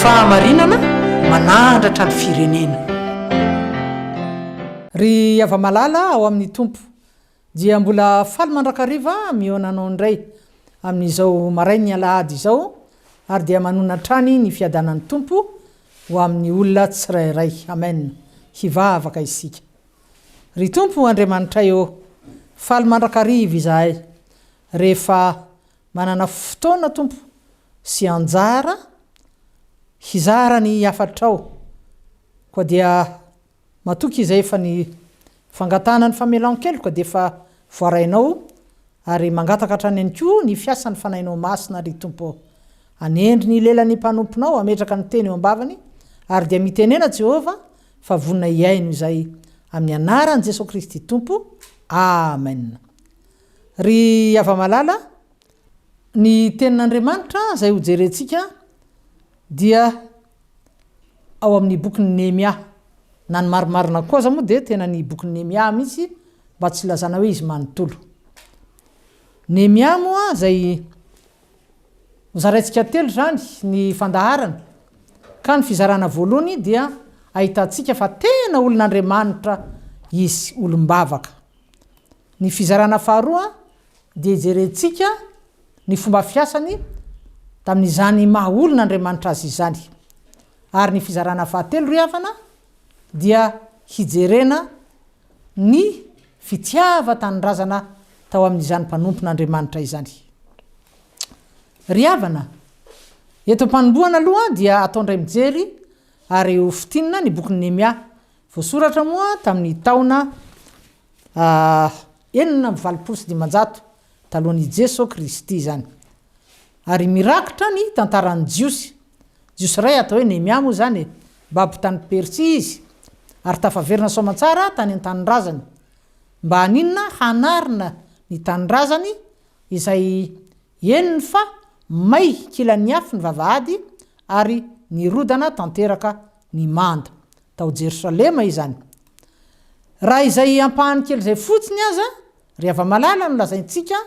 Fahamarinana manahandratra ny firenena. Ry hava-malala ao amin'ny Tompo, dia mbola faly mandrakariva mihaona anao indray, amin'izao marain'ny alahady izao, ary dia manona hatrany ny fiadanan'ny Tompo ho amin'ny olona tsirairay. Amen. Hivavaka isika. Ry Tompo Andriamanitray ô, faly mandrakariva izahay rehefa Manana fotoana, Tompo, sy anjara hizara ny hafatrao. Koa dia matoky izay fa ny fangatahana ny famelan-keloka dia efa voarainao, ary mangataka hatrany ihany koa ny fiasan'ny Fanahinao Masina, ry Tompo ô. Anendry ny lelan'ny mpanomponao hametraka ny teny eo am-bavany, ary dia mitenena, Jehovah, fa vonona hihaino izay. Amin'ny anaran'i Jesoa Kristy Tompo. Amena. Ry hava-malala, ny Tenin'Andriamanitra izay hojerentsika dia ao amin'ny bokin'i Nehemia. Na ny marimarina koa aza moa dia tena ny bokin'i Nehemia mihitsy mba tsy hilazana hoe izy manontolo. Nehemia moa izay hozaraintsika telo izany ny fandaharana. Ka ny fizarana voalohany dia ahitantsika fa tena olon'Andriamanitra izy, olom-bavaka. Ny fizarana faharoa dia hijerentsika ny fomba fiasany tamin'izany maha olona Andriamanitra azy izany. Ary ny fizarana fahatelo ry havana dia hijerena ny fitiavan-tanindrazana tao amin'izany mpanompon'Andriamanitra izany. Ry havana, eto am-panombohana aloha dia atao indray mijery ary ho fintinina ny bokin'i Nehemia. Voasoratra moa tamin'ny taona enina amby valopolo sy dimanjato talohan' i Jeso Kristy izany. Ary mirakitra ny tantaran'ny Jiosy. Jiosy iray atao hoe Nehemia moa izany e. Babo tany Persia izy, ary tafaverina soamantsara tany an-tanindrazany. Mba haninona? Hanarina ny tanindrazany izay henony fa may kilan'ny afo ny vavahady, ary nirodana tanteraka ny manda. tao Jerosalema izany. Raha izay ampahany kely izay fotsiny aza ry hava-malala no lazaintsika,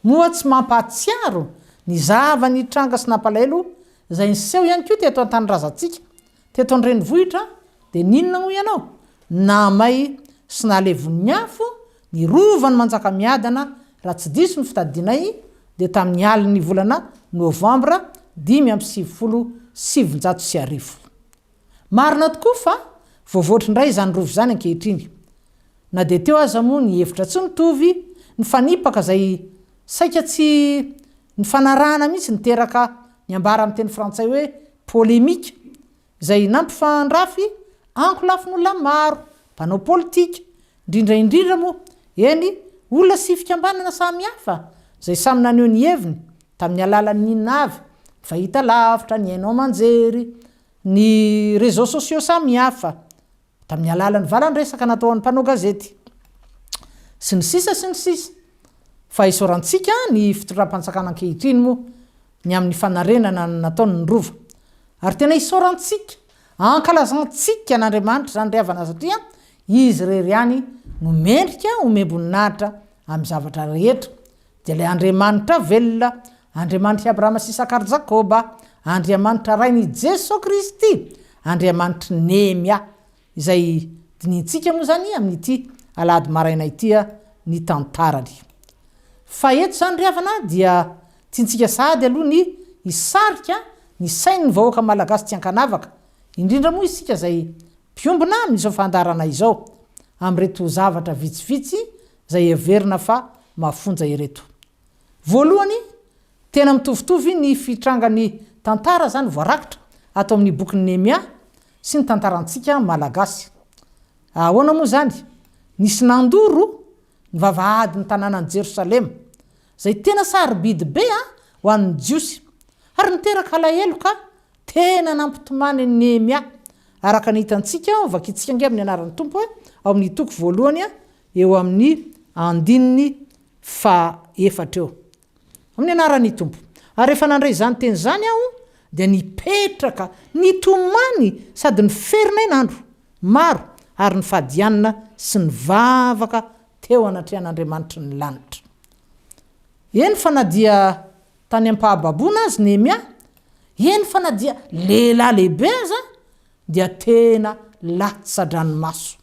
moa tsy mampahatsiaro ny zava-nitranga sy nampalahelo izay niseho ihany koa teto an-tanindrazantsika, teto an-drenivohitra, dia n'inona hoy ianao? Nahamay sy nahalevon'ny afo ny Rovan'i Manjakamiadana, raha tsy diso ny fitadidianay, dia tamin'ny alin'ny volana novambra dimy amby sivifolo sy sivinjato sy arivo. Marina tokoa fa voavoatra indray izany rova izany ankehitriny. Na dia teo aza moa ny hevitra tsy mitovy, nifanipaka izay saika tsy nifanarahana mihitsy niteraka ny ambara amin'ny teny frantsay hoe polemique izay nampifandrafy ankolafin'olona maro, mpanao politika, indrindra indrindra moa, eny, olona sy fikambanana samihafa izay samy naneho ny heviny tamin'ny alalan'ny inona avy, ny fahitalavitra, ny haino aman-jery, Ny réseaux sociaux samy hafa. Tamin'ny alalan'ny vala ny resaka nataon'ny mpanao gazety. Sy ny sisa sy ny sisa. Fa isaorantsika ny fitondram-panjakana ankehitriny moa ny amin'ny fanarenana ny nataony ny Rova. Ary tena isaorantsika, ankalazantsika an'Andriamanitra izany ry havana satria Izy irery ihany no mendrika omem-boninahitra amin'ny zavatra rehetra. Dia ilay Andriamanitra velona, Andriamanitr'i Abrahama sy Isaka ary Jakoba, Andriamanitra Rain' i Jeso Kristy, Andriamanitry Nehemia, izay dinihintsika moa izany amin'ity alahady maraina ity ny tantarany. Fa eto izany ry havana dia tiantsika sahady aloha ny hisarika ny sain'ny vahoaka malagasy tsy ankanavaka, indrindra moa isika izay mpiombona amin'izao fandaharana izao, amin'ireto zavatra vitsivitsy izay heverina fa mafonja ireto. Voalohany, tena mitovitovy ny fitrangan'ny tantara izany voarakitra ato amin'ny bokin'i Nehemia sy ny tantarantsika Malagasy. Ahoana moa izany? Nisy nandoro ny vavahadin'ny tanànan'i Jerosalema, izay tena sarobidy be ho an'ny Jiosy, ary niteraka alahelo ka tena nampitomany an'i Nehemia, araka ny hitantsika ao, vakintsika ange amin'ny anaran'ny Tompo ao amin'ny toko voalohany eo amin'ny andininy fahaefatra eo, amin'ny anaran'ny Tompo. Ary rehefa nandre izany teny izany aho, dia nipetraka, nitomany sady niferinay ny andro maro ary nifadianina sy nivavaka teo anatrehan'Andriamanitry ny lanitra. Eny fa na dia tany am-pahababoana azy Nehemia, eny fa na dia lehilahy lehibe aza, dia tena latsa-dranomaso.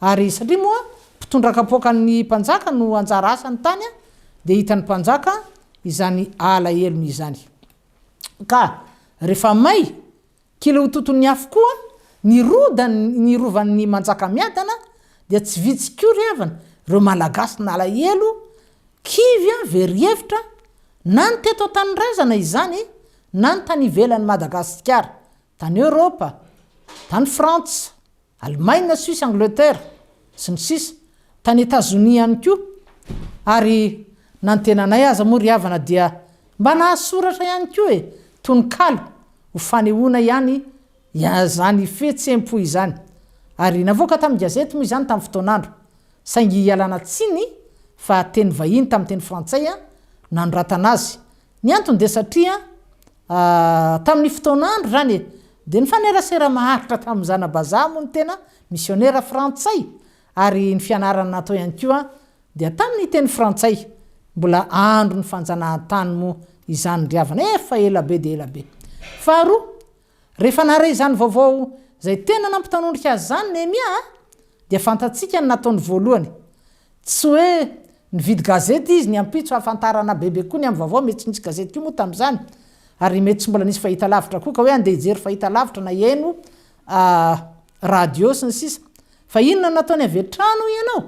Ary satria moa mpitondra kapoakan'ny mpanjaka no anjara asany tany dia hitan'ny mpanjaka izany alahelony izany. Ka rehefa may kely ho toton'ny afo koa ny rodany ny rovan'ny Manjakamiadana dia tsy vitsy koa ry havana ireo Malagasy nalahelo, kivy, very hevitra na ny teto an-tanindrazana izany na ny tany ivelan'i Madagasikara. Tany Eoropa, tany Frantsa, Alemaina, Suisse, Angleterre, sy ny sisa, tany Etazonia ihany koa, ary na ny tenanay aza moa ry havana dia mba nahasoratra ihany koa e, tononkalo ho fanehoana ihany izany fihetsem-po izany, ary navoaka tamin'ny gazety moa izany tamin'ny fotoan'andro, saingy ialana tsiny fa teny vahiny tamin'ny teny frantsay nanoratana azy, ny antony dia satria Tamin'ny fotoanandro izany e, dia nifanerasera maharitra tamin'ny zana-bazaha moa ny tena misionera frantsay, ary ny fianarana natao ihany koa dia tamin'ny teny frantsay. Mbola andron'ny fanjanahantany moa izany ry havana, efa ela be dia ela be. Faharoa, rehefa naharay izany vaovao izay tena nampitanondrika azy izany Nehemia dia fantatsika ny nataony voalohany. Tsy hoe Nividy gazety izy ny ampitso hahafantarana bebe koa ny amin'ny vaovao, mety tsy nisy gazety koa moa tamin'izany ary mety tsy mbola nisy fahitalavitra koa ka hoe andeha hijery fahitalavitra na hihaino radio sy ny sisa Fa inona no nataony avy hatrany hoy ianao?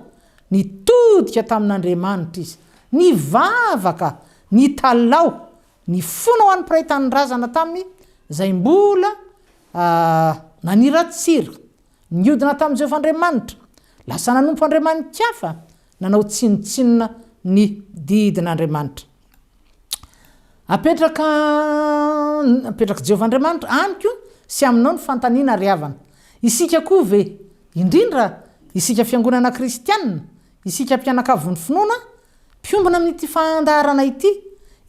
Nitodika tamin'Andriamanitra izy, nivavaka, nitalaho, nifona ho an'ny mpiray tanindrazana taminy izay mbola naniratsira, niodina tamin'i Jehovah Andriamanitra, lasa nanompo andriamani-kafa, Nanao tsinontsinona ny didin'Andriamanitra. Apetraka apetrak'i Jehovah Andriamanitra amiko sy aminao ny fanontaniana ry havana. Isika koa ve, indrindra isika fiangonana kristiana, isika mpianakavy ny finoana, mpiombona amin'ity fandaharana ity,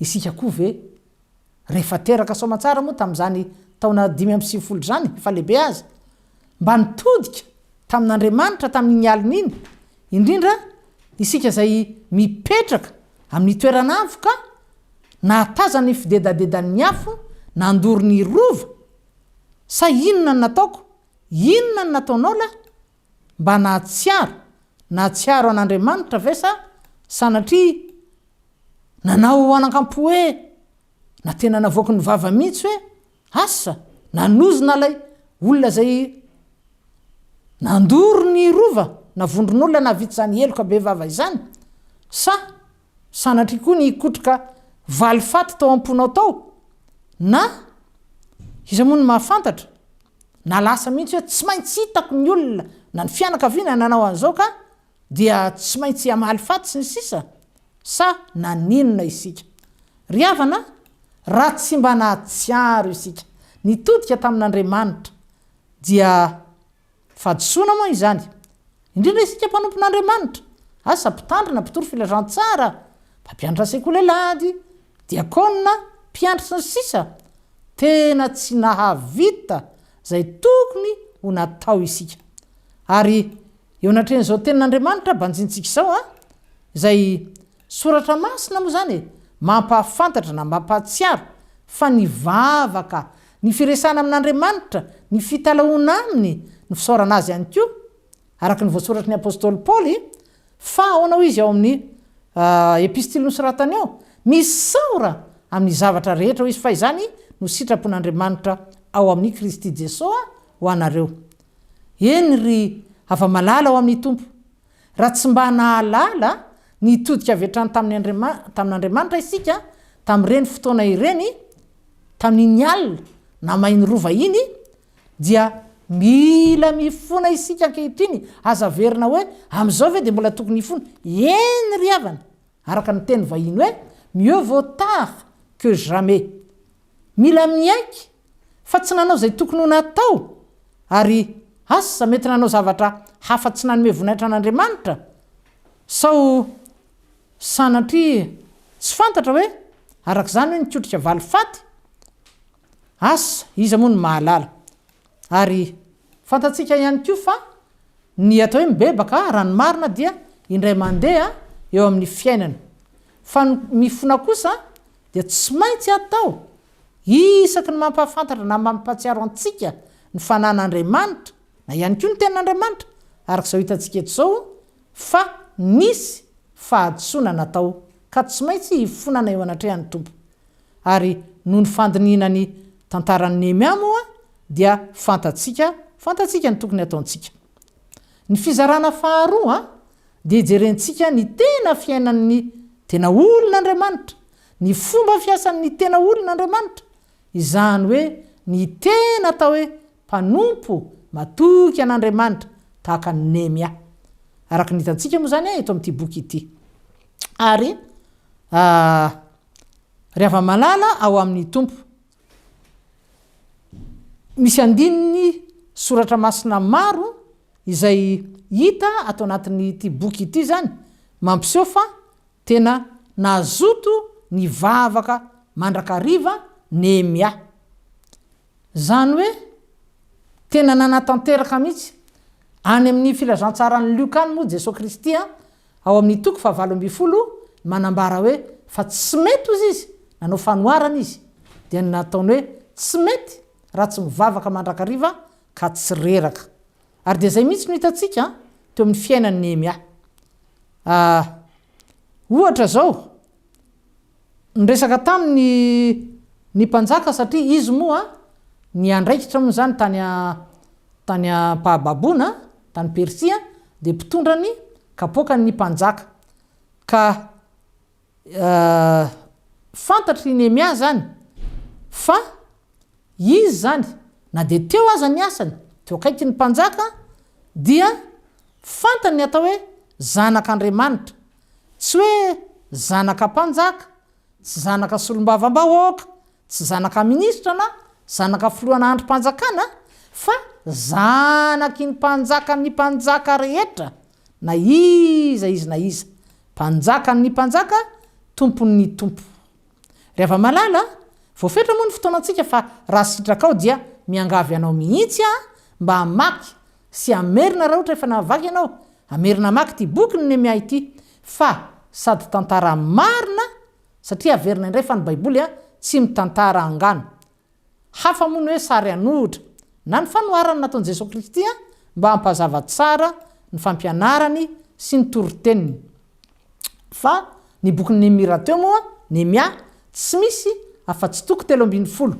isika koa ve, Rehefa teraka soamantsara moa tamin'izany taona dimy amby sivifolo izany fa lehibe aza, mba nitodika tamin'Andriamanitra tamin'iny alina iny, indrindra isika izay mipetraka amin'ny toeran'avo ka nahatazana ny fidedadedan'ny afo nandoro ny Rova, sa inona no nataoko, inona no nataonao lahy, Mba nahatsiaro, nahatsiaro an'Andriamanitra ve sa sanatria nanao hoanankampo hoe, na tena navoaky ny vava mihitsy hoe, asa, nanozona ilay olona izay nandoro ny rova, na vondron'olona nahavita izany heloka be vava izany? Sa sanatria koa nikotroka valifaty tao am-ponao tao? Na, iza moa no mahafantatra? Na lasa mihitsy hoe tsy maintsy hitako ny olona na ny fianakaviana nanao an'izao ka dia tsy maintsy hamaly faty sy ny sisa Sa naninona isika? Ry havana a! Raha tsy mba nahatsiaro isika nitodika tamin'Andriamanitra dia fahadisoana moa izany? Indrindra isika mpanompon'Andriamanitra, asa mpitandrina, mpitory filazantsara, mpampianatra sekoly alahady, Diakona, mpiandry sy ny sisa Tena tsy nahavita izay tokony ho natao isika. Ary eo anatrehan'izao tenin'Andriamanitra banjintsika izao an, izay soratra masina moa izany e, mampahafantatra na mampahatsiaro fa ny vavaka, ny firesahana amin'Andriamanitra, ny fitalahoana aminy, ny fisaorana azy ihany koa Araka ny voasoratry ny apostoly Paoly, fa ahoana hoy izy ao amin'ny epistily nosoratany ao, Misaora amin'ny zavatra rehetra, hoy izy, fa izany no sitrapon'Andriamanitra ao amin'i Kristy Jesoa ho anareo. Eny, ry hava-malala ao amin'ny Tompo, raha tsy mba nahalala nitodika avy hatrany tamin'Andriamanitra isika tamin'ireny fotoana ireny, tamin'iny alina namain'ny rova iny, Dia mila mifona isika ankehitriny, aza averina hoe, amin'izao ve dia mbola tokony hifona? Eny ry havana, araka ny teny vahiny hoe mieux vaut tard que jamais. Mila miaiky fa tsy nanao izay tokony ho natao, ary asa mety nanao zavatra hafa tsy nanome voninahitra an'Andriamanitra, sao sanatria tsy fantatra hoe araka izany hoe nikotrika valifaty? Asa iza moa no mahalala. Ary fantatsika ihany koa fa ny atao hoe mibebaka raha ny marina dia indray mandeha eo amin'ny fiainana. Fa ny mifona kosa dia tsy maintsy atao isaky ny mampahafantatra na mampahatsiaro antsika ny fanan'Andriamanitra na ihany koa ny tenin'Andriamanitra araka izao hitantsika eto izao fa nisy fahadisoana natao ka tsy maintsy hifonana eo anatrehan'ny Tompo. Ary noho ny fandinihina ny tantaran'i Nehemia moa dia fantatsika fantatsika ny tokony hataontsika. Ny fizarana faharoa dia hijerentsika ny tena fiainan'ny tena olon'Andriamanitra, ny fomba fiasan'ny tena olon'Andriamanitra, izany hoe ny tena atao hoe mpanompo matoky an'Andriamanitra tahaka an'i Nehemia. Araka ny hitantsika moa izany eto amin'ity boky ity ary Ry hava-malala ao amin'ny Tompo, misy andininy soratra masina maro izay hita ato anatin'ity boky ity izany mampiseho fa tena nazoto nivavaka mandrakariva Nehemia. Izany hoe tena nanatanteraka mihitsy. Any amin'ny Filazantsaran'i Lioka any moa Jesoa Kristy ao amin'ny toko fahavalo ambin'ny folo ny manambara hoe fa tsy mety hozy izy nanao fanoharana izy dia ny nataony hoe tsy mety raha tsy mivavaka mandrakariva ka tsy reraka ary dia izay mihitsy no hitantsika teo amin'ny fiainan'i Nehemia a ohatra izao Niresaka taminy ny mpanjaka satria izy moa niandraikitra moa izany tany tany ampahababoana tany Persia dia mpitondra ny kapoakan' ny mpanjaka ka fantatr' i Nehemia izany fa izy izany na dia teo aza ny asany teo akaikin' ny mpanjaka dia fantany ny atao hoe zanak' Andriamanitra Tsy hoe zanaka mpanjaka, tsy zanaka solombavambahoaka, tsy zanaka minisitra na zanaka filohana andrim-panjakana fa zanaky ny mpanjakan' ny mpanjaka rehetra na iza izy na iza, mpanjakan' ny mpanjaka, tompon' ny tompo. Ry hava-malala a, voafetra moa ny fotoanantsika fa raha sitrakao dia miangavy anao mihitsy aho mba hamaky Sy hamerina raha ohatra efa nahavaky ianao, hamerina hamaky ity boky ny Nehemia ity, fa sady tantara marina, satria averina indray fa ny baiboly a, tsy mitantara angano. Hafa moa ny hoe sary an'ohitra, na ny fanoharana nataon'i Jesoa Kristy a, mba hampazava tsara ny fampianarany sy ny toriteniny. Fa ny bokin'i Nehemia rahateo moa, Nehemia, tsy misy afa-tsy toko telo ambin'ny folo.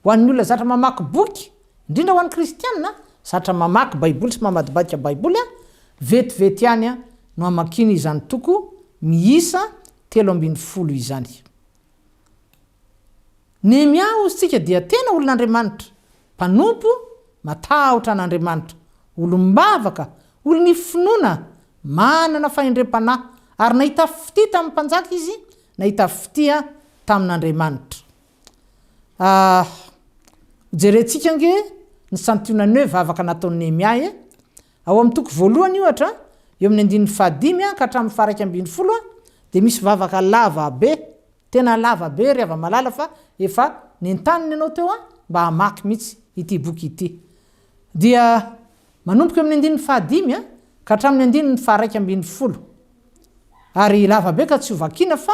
Ho an'ny olona zatra mamaky boky Indrindra ho an'ny kristiana, zatra mamaky Baiboly sy mamadibadika Baiboly aho, vetivety ihany no hamakiany izany toko miisa telo ambin'ny folo izany. Nehemia hozy tsika dia tena olon'Andriamanitra, mpanompo, matahotra an'Andriamanitra, olom-bavaka, olon'ny finoana, manana fahendrem-panahy, ary nahita fitia tamin'ny mpanjaka izy, nahita fitia tamin'Andriamanitra. Ah, hojerentsika ange ny santionany hoe vavaka nataon'i Nehemia e! Ao amin'ny toko voalohany, ohatra, eo amin'ny andininy fahadimy ka hatramin'ny faharaika ambin'ny folo, dia misy vavaka lava be, tena lava be, ry hava-malala, fa efa nentanina ianao teo mba hamaky mihitsy ity boky ity. Dia. Manomboka eo amin'ny andininy fahadimy ka hatramin'ny andininy faharaika ambin'ny folo. Ary lava be ka tsy ho vakiana fa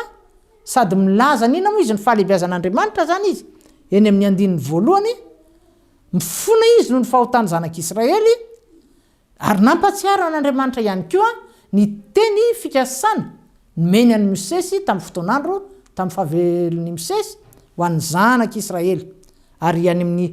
sady milaza ny inona moa izy ny fahalehibiazan'Andriamanitra izany izy eny amin'ny andininy voalohany, mifona izy noho ny fahotan'ny zanak'Israely, ary nampahatsiaro an'Andriamanitra ihany koa ny teny fikasana nomeny an'i Mosesy tamin'ny fotoan'andro tamin'ny fahavelon'i Mosesy ho an'ny zanak'Israely ary any amin'ny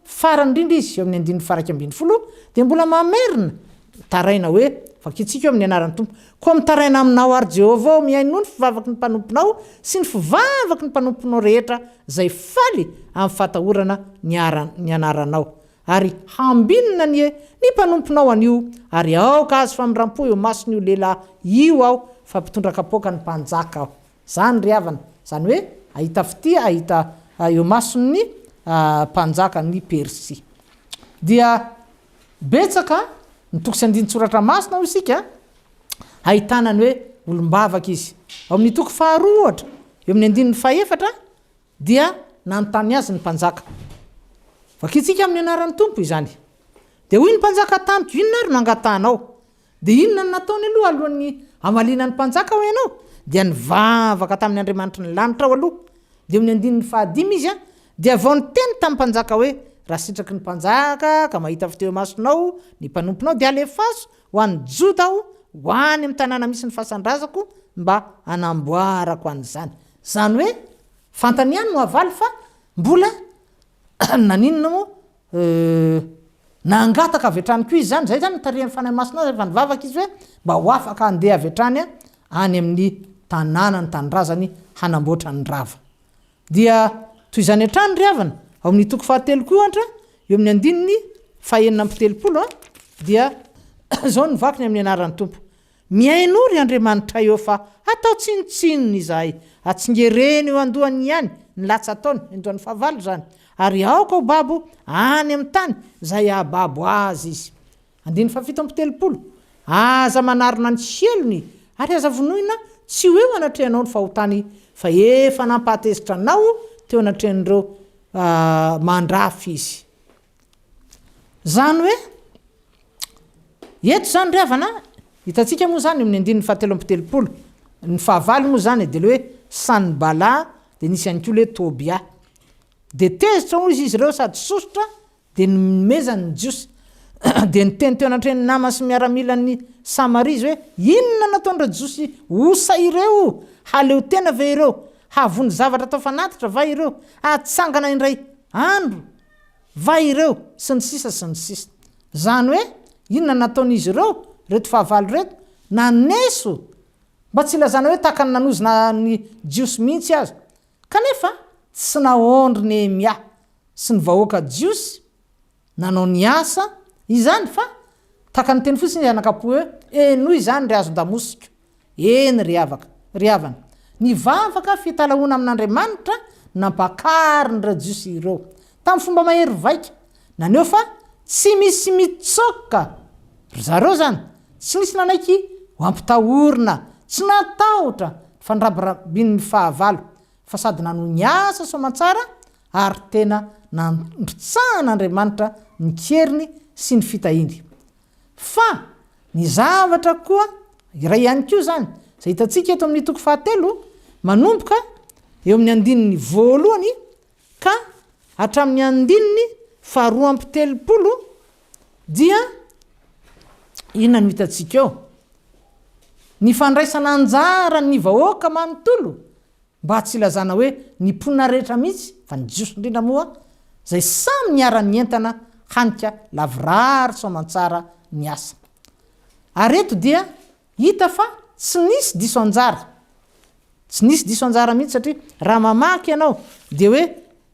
Farany indrindra izy eo amin'ny andininy faharaika ambin'ny folo dia mbola mamerina, Mitaraina hoe, Vakintsika eo amin'ny anaran'ny Tompo. Koa mitaraina aminao àry Jehovah ô, mihainoa ny fivavaky ny mpanomponao sy ny fivavaky ny mpanomponao rehetra izay faly amin'ny fahatahorana ny anaranao. Ary hambinina anie ny mpanomponao anio, ary aoka hahazo famindram-po eo mason'io lehilahy io aho, fa mpitondra kapoaka ny mpanjaka aho. Izany ry havana, izany hoe hahita fitia hahita eo mason'ny mpanjakan'i Persia. Dia betsaka ny toko sy andinin-tsoratra masina hoy isika ahitana ny hoe olom-bavaka izy. Ao amin'ny toko faharoa ohatra, eo amin'ny andininy fahefatra dia nanontany azy ny mpanjaka. Vakintsika amin'ny anaran'ny Tompo izany. Dia hoy ny mpanjaka tamiko, inona ary no angatahanao? Dia inona no nataony aloha alohan'ny hamaliana ny mpanjaka hoy ianao? Dia nivavaka tamin'ny Andriamanitry ny lanitra aho aloha. Dia eo ny andininy fahadimy izy dia vao niteny tamin'ny mpanjaka hoe, Raha sitraky ny mpanjaka ka mahita avy teo imasonao ny mpanomponao dia alefaso ho any Joda aho ho any amin'ny tanàna misy ny fasan-drazako mba hanamboarako an'izany. Izany hoe fantany ihany no havaly fa mbola Naninona moa? Euh. Nangataka avy hatrany koa izy izany, izay izany nitarihan'ny Fanahy Masina azy rehefa nivavaka izy hoe mba ho afaka handeha avy hatrany any amin'ny tanàna ny tanindrazany hanamboatra ny rava. Dia toy izany hatrany ry havana, ao amin'ny toko fahatelo koa ohatra, eo amin'ny andininy fahenina amby telopolo dia izao ny vakiny amin'ny anaran'ny Tompo. Mihainoa ry Andriamanitray ô fa atao tsinontsinona izahay, atsingereno eo andohany ihany ny latsataony, indroan'ny fahavalo izany, ary aoka ho babo any amin'ny tany izay hahababo azy izy. Andininy fahafito amby telopolo, Aza manarona ny helony ary aza vonoina tsy ho eo anatrehanao ny fahotany fa efa nampahatezitra anao teo anatrehan'ireo mandrafy izy. Izany hoe, eto izany ry havana, hitantsika moa izany amin'ny andininy fahatelo amby telopolo, ny fahavalo moa izany dia ilay hoe Sanibala, dia nisy ihany koa ilay hoe Tobia. Dia tezitra hoy izy izy ireo sady sosotra, dia nomezany ny Jiosy. Dia niteny teo anatrehan' ny namany sy ny miaramilany ny Samaria izy hoe, Inona no ataon-dry Jiosy osa ireo? Haleo tena ve ireo? Hahavonjy zavatra atao fanatitra va ireo? Hatsangana indray andro? va ireo sy ny sisa sy ny sisa. Zany hoe inona nataon'izy ireo reto fahavalo reto naneso mba tsy hilazana hoe tahaka ny nanozona ny jiosy mihintsy aza. Kanefa tsy naondry Nehemia sy ny vahoaka jiosy nanao ny asa izany fa tahaka ny teny fotsiny izy anakapo hoe henoy izany ry hazon-damosiko. Eny, ry havaka, ry havana, nivavaka fitalahoana amin'Andriamanitra nampakarin'ireo Jiosy ireo, tamin'ny fomba mahery vaika, naneho fa tsy misy mitsoaka ry zareo izany, tsy nisy nanaiky ho ampitahorina, tsy natahotra ny fandrabirabin'ny fahavalo, fa sady nanohy ny asa soamantsara ary tena nandrotsahan'Andriamanitra ny keriny sy ny fitahiany. Fa ny zavatra koa iray ihany koa izany, izay hitantsika eto amin'ny toko fahatelo, manomboka eo amin'ny andininy voalohany ka hatramin'ny andininy faharoa amby telopolo, dia inona no hitantsika eo? Ny fandraisana anjaran'ny vahoaka manontolo. Mba tsy ilazana hoe ny mponina rehetra mihitsy fa ny Jiosy indrindra moa izay samy niara nientana hanika lavorary tsy aman-tsara ny asa. Ary eto dia hita fa tsy nisy diso anjara. Tsy nisy diso anjara mihitsy satria raha mamaky ianao dia hoe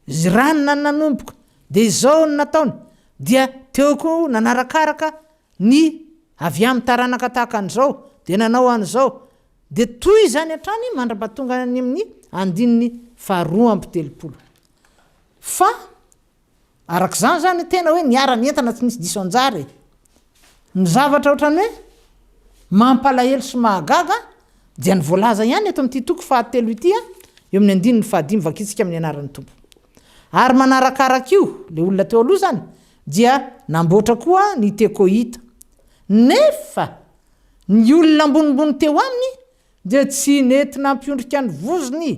Zranna no nanomboka dia izao no nataony dia teo koa nanarakaraka ny avy amin'ny taranaka tahaka an'izao dia nanao an'izao Dia toy izany hatrany mandra-pahatonga any amin'ny andininy faharoa amby telopolo. Fa araka izany izany tena hoe niara-nientana tsy nisy diso anjara e! Ny zavatra ohatran'ny hoe mampalahelo sy mahagaga dia ny voalaza ihany eto amin'ity toko fahatelo ity eo amin'ny andininy fahadimy vakintsika amin'ny anaran'ny Tompo. Ary manarakaraka io, ilay olona teo aloha izany dia namboatra koa ny Tekoita. Nefa! Ny olona ambonimbony teo aminy dia tsy nety nampiondrika ny vozony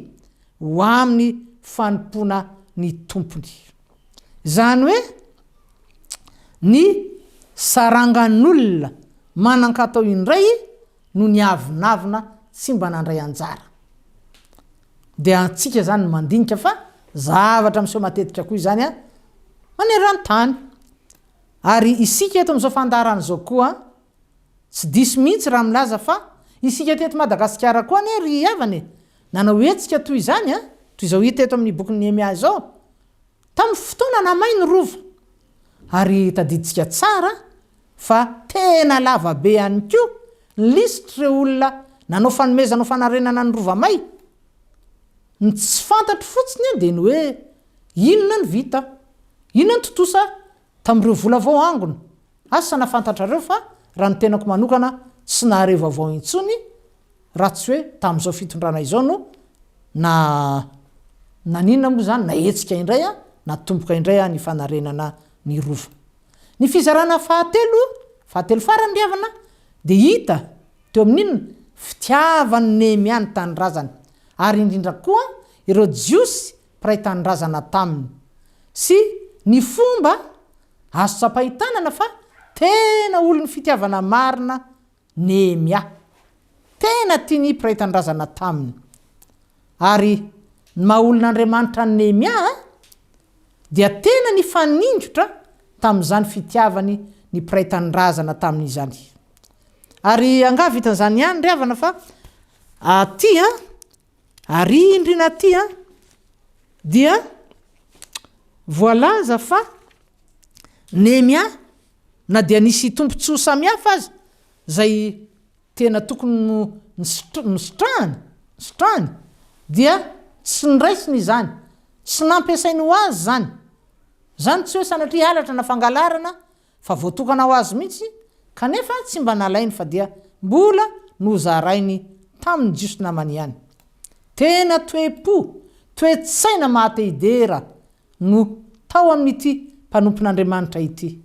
ho amin'ny fanompoana ny Tompony. Izany hoe ny sarangan'olona manan-katao indray no niavonavona tsy mba nandray anjara. Dia antsika izany no mandinika fa zavatra miseho matetika koa izany maneran-tany. Ary isika eto amin'izao fandaharana izao koa, Tsy diso mihitsy raha milaza fa isika teto Madagasikara koa anie ry havana e, nanao hetsika toy izany an, toy izao hita eto amin'ny bokin'i Nehemia izao, tamin'ny fotoana nahamay ny rova. Ary tadidintsika tsara fa tena lava be ihany koa ny lisitr'ireo olona nanao fanomezana ho fanarenana ny rova may. Ny tsy fantatro fotsiny dia ny hoe inona no vita? Inona no tontosa Tamin'ireo vola vao hangona. Asa na fantatrareo fa raha ny tenako manokana tsy nahare vaovao intsony raha tsy hoe tamin'izao fitondrana izao no na naninona moa izany nahetsika indray an, natomboka indray an ny fanarenana ny rova. Ny fizarana fahatelo, fahatelo farany ry havana, dia hita teo amin'inona? Fitiavan'i Nehemia ny tanindrazany ary indrindra koa ireo Jiosy mpiray tanindrazana taminy sy ny fomba azo tsapain-tanana fa tena olon'ny fitiavana marina Nehemia. Tena tia ny mpiray tanindrazana taminy. Ary ny maha olon'Andriamanitra an'i Nehemia dia tena nifaningotra tamin'izany fitiavany ny mpiray tanindrazana taminy izany. Ary angaha vitan'izany ihany ry havana fa aty Ary iny ry Naty a, dia voalaza fa Nemia na dia nisy tombontsoa samihafa aza izay tena tokony no nositrahany, nositrahany, dia tsy noraisiny izany, tsy nampiasainy ho azy izany. Izany tsy hoe sanatria halatra na fangalarana Fa voatokana ho azy mihitsy, kanefa tsy mba nalainy fa dia mbola nozarainy tamin'ny Jiosy namany ihany. Tena toe-po, toe-tsaina maha-te-hidera no tao amin'ity mpanompon'Andriamanitra ity.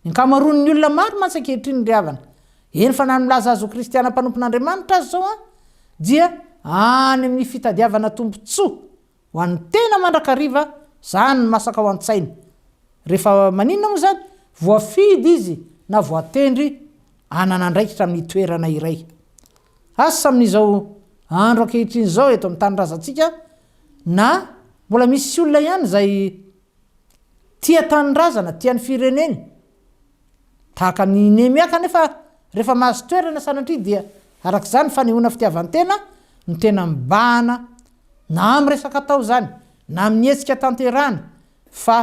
Ny ankamaroan'ny olona maro mantsy ankehitriny ry havana, eny fa na ny milaza azy ho kristiana mpanompon'Andriamanitra aza izao dia any amin'ny fitadiavana tombontsoa Ho an'ny tena mandrakariva zany ny masaka ao an-tsaina. Rehefa maninona moa izany? Voafidy izy na voatendry hanana andraikitra amin'ny toerana iray. Asa amin'izao andro ankehitriny izao eto amin'ny tanindrazantsika na mbola misy olona ihany izay Tia tanindrazana, tia ny fireneny. Tahaka an'i Nehemia kanefa, rehefa mahazo toerana sanatria dia araka izany fanehoana fitiavan-tena no tena mibahana na amin'ny resaka atao izany na amin'ny hetsika tanterahana fa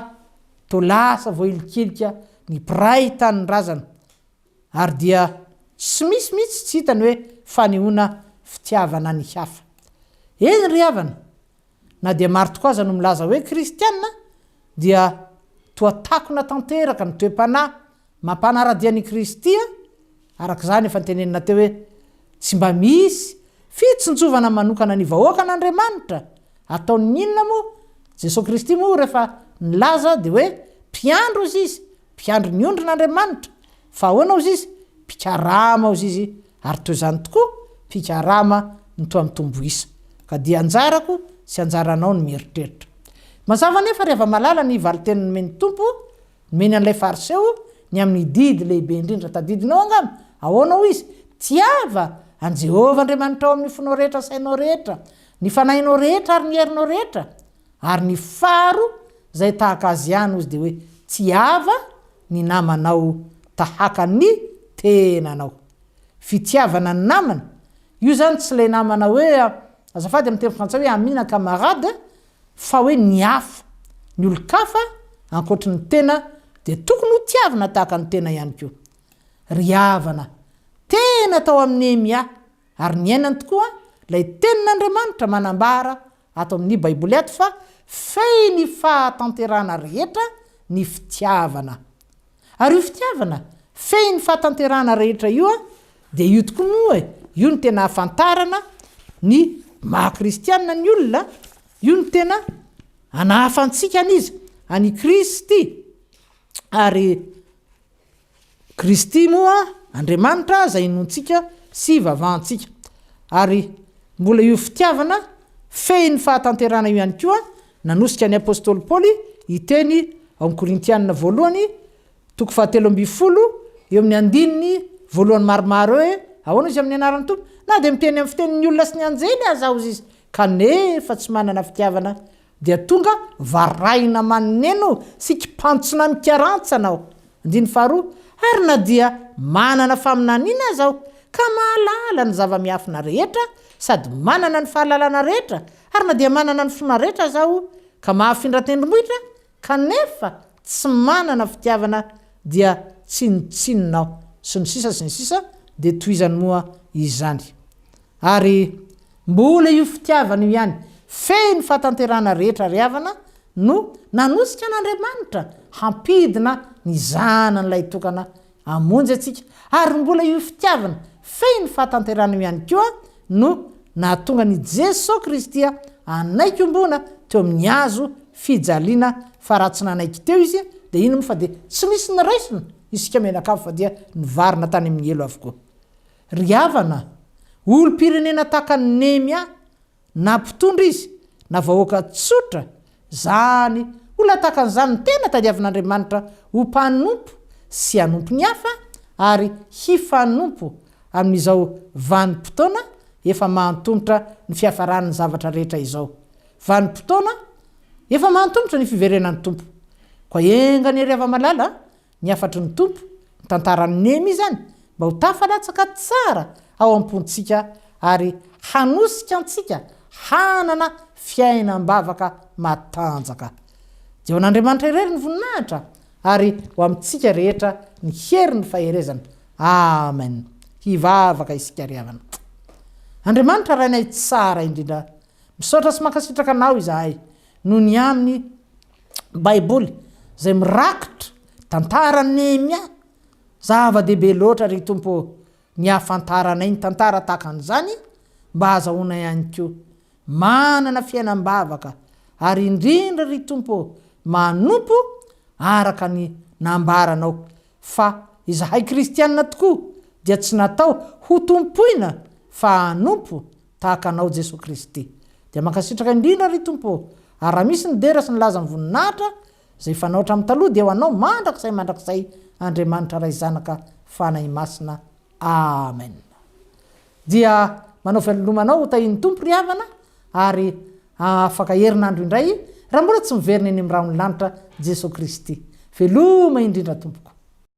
toa lasa voahilikilika ny mpiray tanindrazana ary dia tsy misy mihitsy tsy hitany hoe fanehoana fitiavana ny hafa. Eny ry havana, Na dia maro tokoa aza no milaza hoe kristiana, dia toa takona tanteraka ny toe-panahy mampanara-dia an' i Kristy, araka izany efa notenenina teo hoe, Tsy mba misy fitsinjovana manokana ny vahoakan' Andriamanitra. Ataon' ny inona moa? Jesoa Kristy moa rehefa nilaza dia hoe mpiandry hozy Izy, mpiandry ny ondrin' Andriamanitra, Fa ahoana hozy izy? Mpikarama hozy izy ary toy izany tokoa, mpikarama no toa mitombo isa. Ka dia anjarako sy anjaranao ny mieritreritra. Mazava anefa ry hava-malala ny valinteny nomen'ny Tompo, nomeny an'ilay Fariseo, ny amin'ny didy lehibe indrindra tadidinao angamba. Ahoana hoy izy? Tiava an'i Jehovah Andriamanitrao amin'ny fonao rehetra, sainao rehetra, ny fanahinao rehetra ary ny herinao rehetra. Ary ny faro zay tahaka azy ihany ozy de hoe tsy ava ny namanao tahaka ny tenanao. Fitiavana ny namana, io zany tsy le namana hoe azafady amin'ny teny frantsay hoe amis na camarade fa hoe ny hafa, ny olon-kafa ankoatry ny tena de tokony ho tiavina tahaka ny tena ihany koa. Ry havana, tena tao amin'i Nehemia ary niainany tokoa lay tenin'Andriamanitra manambara ato amin'ny Baiboly ato fa fey ny fahatanterahana rehetra ny fitiavana. Ary io fitiavana fey ny fahatanterahana rehetra io dia io tokoa moa e, io no tena ahafantarana ny maha-kristiana ny olona, io no tena anahafantsika an'iza? An'i Kristy. Ary. Kristy moa Andriamanitra izay inoantsika sy ivavahantsika. Ary mbola io fitiavana fehy ny fahatanterahana io ihany koa nanosika ny apostoly Paoly hiteny ao amin'ny Korintianina voalohany toko fahatelo ambin'ny folo eo amin'ny andininy voalohany maromaro hoe ahoana izy amin'ny anaran'ny Tompo na dia miteny amin'ny fitenin'ny olona sy ny anjely aza aoz izy kanefa tsy manana fitiavana Dia tonga varahina maneno sy kipantsona mikarantsana aho. Andininy faharoa, Ary na dia manana faminaniana aza aho, ka mahalala ny zava-miafina rehetra sady manana ny fahalalana rehetra, ary na dia manana ny finoana rehetra aza aho, ka mahafindra tendrombohitra, kanefa tsy manana fitiavana, dia tsinontsinona aho. Sy ny sisa sy ny sisa, dia tohizany moa izany. Ary mbola io fitiavana io ihany feno fahatanterahana rehetra ry havana no nanosika an'Andriamanitra hampidina ny Zanan'ilay tokana hamonjy antsika, ary mbola io fitiavana feno fahatanterahana io ihany koa no nahatonga an'i Jesoa Kristy hanaiky ombona teo amin'ny hazo fijaliana fa raha tsy nanaiky teo Izy dia ino moa fa dia tsy nisy niraisina isika mianakavy fa dia nivarina tany amin'ny helo avokoa. Ry havana, olom-pirenena tahaka an'i Nehemia, na mpitondra izy, na vahoaka tsotra, izany olona tahaka an'izany no tena tadiavin'Andriamanitra ho mpanompo sy hanompo ny hafa ary hifanompo amin'izao vanim-potoana efa mahantomotra ny fiafaran'ny zavatra rehetra izao. Vanim-potoana efa mahantomotra ny fiverenan'ny Tompo. Koa enga anie ry hava-malala Ny hafatry ny Tompo, ny tantaran'i Nehemia izany, mba ho tafalatsaka tsara ao am-pontsika ary hanosika antsika hanana fiainam-bavaka matanjaka. Dia ho an'Andriamanitra irery ny voninahitra ary ho amintsika rehetra ny herin'ny faherezana. Amen. Hivavaka isika ry havana. Andriamanitra Rainay tsara indrindra, misaotra sy mankasitraka Anao izahay noho ny amin'ny. Baiboly izay mirakitra tantaran'i Nehemia. Zava-dehibe loatra, ry Tompo ô, ny hahafantaranay ny tantara tahaka an'izany mba hahazahoanay ihany koa manana fiainam-bavaka, ary indrindra, ry Tompo ô, manompo araka ny nambaranao fa izahay kristiana tokoa dia tsy natao hotompoina fa hanompo Tahaka anao Jesoa Kristy. Dia mankasitraka indrindra ry Tompo ô! Ary raha misy nidera sy nilaza ny voninahitra izay fanao hatramin'ny taloha dia ho anao mandrakizay mandrakizay Andriamanitra Ray Zanaka Fanahy Masina Amen. Dia manao velolomana ho tahian'ny Tompo ry havana ary afaka herinandro indray raha mbola tsy miverina eny amin'ny rahon'ny lanitra Jesoa Kristy. Veloma indrindra tompoko.